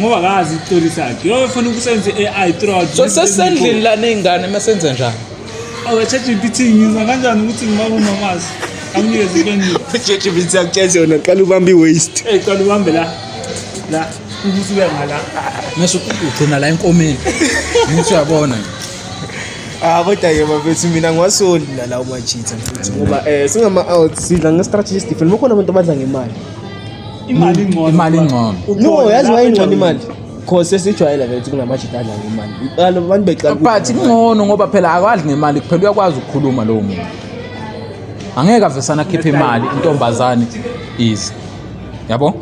ngoba kazi icoli sakhe yofuna ukusenza i-ai trod so sesendlini lana iy'ngane uma senze njani awechatgpt oh, ngiza kanjani ukuthi ngibaba umamazi amnikeze impendulo chatgpt akutshezi yona qala ubambe i-waste ey qala ubambe la la ukuthi uya ngala mese ugcina la enkomeni ngithi uyabona Ah kodwa-ke bafethu mina ngiwasondi nalawo machitha mfethu ngoba um singama-out sidla nge-strategy different bakhona abantu abadla ngemali imali ingcono imali ingcono no yazi wayingcono imali cause sesijwayela vele ukuthi kunamajita adla ngemali iqala abantu beqala but kungcono ngoba phela akwadli ngemali kuphela uyakwazi ukukhuluma lowo muntu angeke avesana akhiphe imali intombazane ize yabo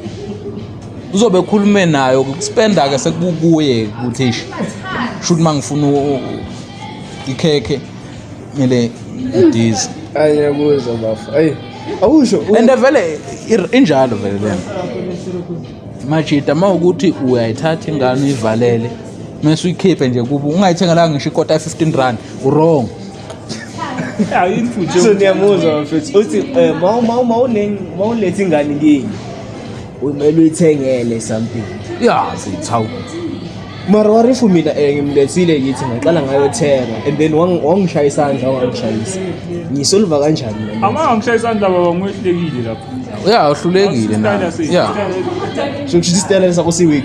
uzobe ekhulume nayo spenda ke sekukuye ukuthi shuthi mangifuna ikhekhe kumele ndize ayakuzwa bafo ayi awusho and vele injalo vele lena majita uma ukuthi uyayithatha ingane uyivalele mese uyikhiphe nje kubo ungayithengelanga ngisho ikota 15 rand urong ayini futhi so niyamuzwa mfethu uthi eh, ma ma ma ulengi ma ulethi ingane ngini Kumele uyithengele something. Yeah, sithawu. Mara warifu mina eh, ngimlethile kithi ngaqala ngayothenga and then wang- wangishaya isandla wangangishayisa. Ngisolva kanjani mina? Ama angishaya isandla baba ngwehlekile lapho. Yeah, uhlulekile Isitayela nawe. sini? Yeah. Isitayela- Sokusho ukuthi isiteleka sakho siweak.